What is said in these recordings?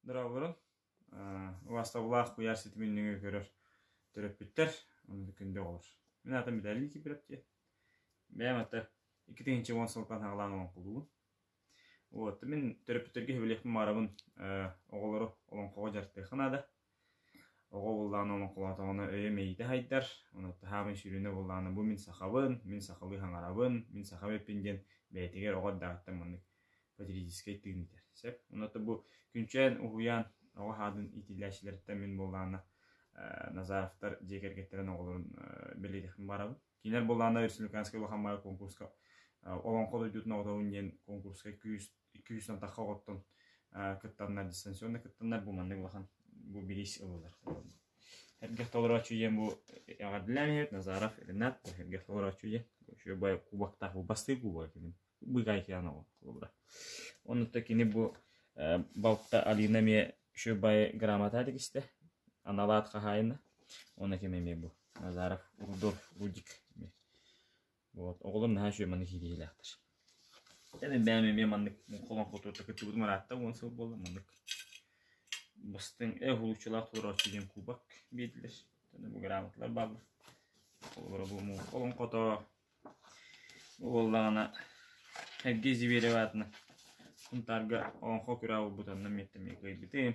Здравствуйбун. Убастабылаах куйаар ситимин нөҥүө көрөр төрөппүттэр онно күндү оҕолор. Мин аатым Виталий Кипревтия. Бэйэм ата икки тыһыынча уон сылтан хаалаан олоҥхолуубун. Вот мин төрөппүттэргэ сөбүлэхпин маарабын оҕолору олоҥхоҕо дьарыктыахха наада. Оҕо буллаҕына олоҥхолоотоҕуна өйө мэйитэ сайдар, онуоха саамай сүрүнэ буоллаҕына бу мин сахабын, мин сахалыы хаҥарабын, мин сахам эппин диэн бэйэтигэр оҕо эрдэҕиттэн маннык патриотическай тыын иитэр. Сөп. Онуота бу күнчээн, уһуйаан оҕо аатын иитиллээччилэриттэн мин буоллаҕына Назаровтар дьиэ кэргэттэрин оҕолорун бэлиэтиэхпин баҕарабын. Кинилэр буоллаҕына Республиканскай улахан баҕайы куонкуруска Олоҥхо дойдутун оҕотоҕун диэн куонкуруска күүс икки үс атахха оҕоттон кыттаннар дистанционно кыттаннар бу маннык улахан бу бириис ылылар Эргэх толорооччу диэн бу эҕэрдэлээн иһэт Назаров Ренат эргэх толорооччу диэн еще бай кубактаах бу бастыы кубога кимин быгай киан оҕо кубра оннута кини бу балта Алина ме еще бай грамота дегисте аналаат хаһайына она ким эме бу Назаров Рудольф Рудик Вот. Оҕолор наһаа үчүгэй маннык иитиһиилээхтэр. Эн бэйэм эмиэ маннык холоон хотуута кыттыбытым ыраатта уон сыл буолла маннык бастыҥ эх улуччулаах толорооччу диэн кубок биэрдилэр. Бу грамоталар бааллар. Олоро бу муу холоон хото буоллаҕына Сергей Зиверев аатынан Кунтаарга Олонхо күраа булбутанна миэттэмиэ кыайбитим.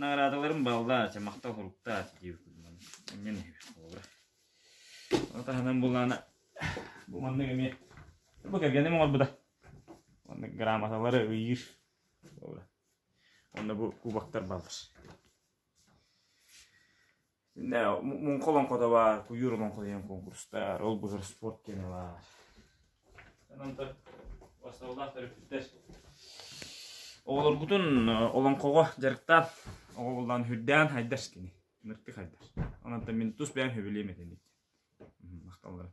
наҕараадаларым бааллаачы, махтал суруктаачы диибиппин иннин иһибит холобура. Ол таһынан булаана бу маннык эмиэ бу кэргэним оҥорбута. Маннык грамоталары ыйыыр. Холобура. Онно бу кубоктар бааллар. Не, муҥха олоҥхотабаар, куйуур олоҥхо диэн конкурстаар, ол быһыр спорт диэн ылаар. Онтон бастаулаах төрөппүттэр оҕолоргутун олоҥхоҕо дьарыктаан оҕо буллаан үрдээн хайдаш кини. Нырты хайдаш. Онон мин тус бэйэм сөбүлэйм этэни. Махталларым.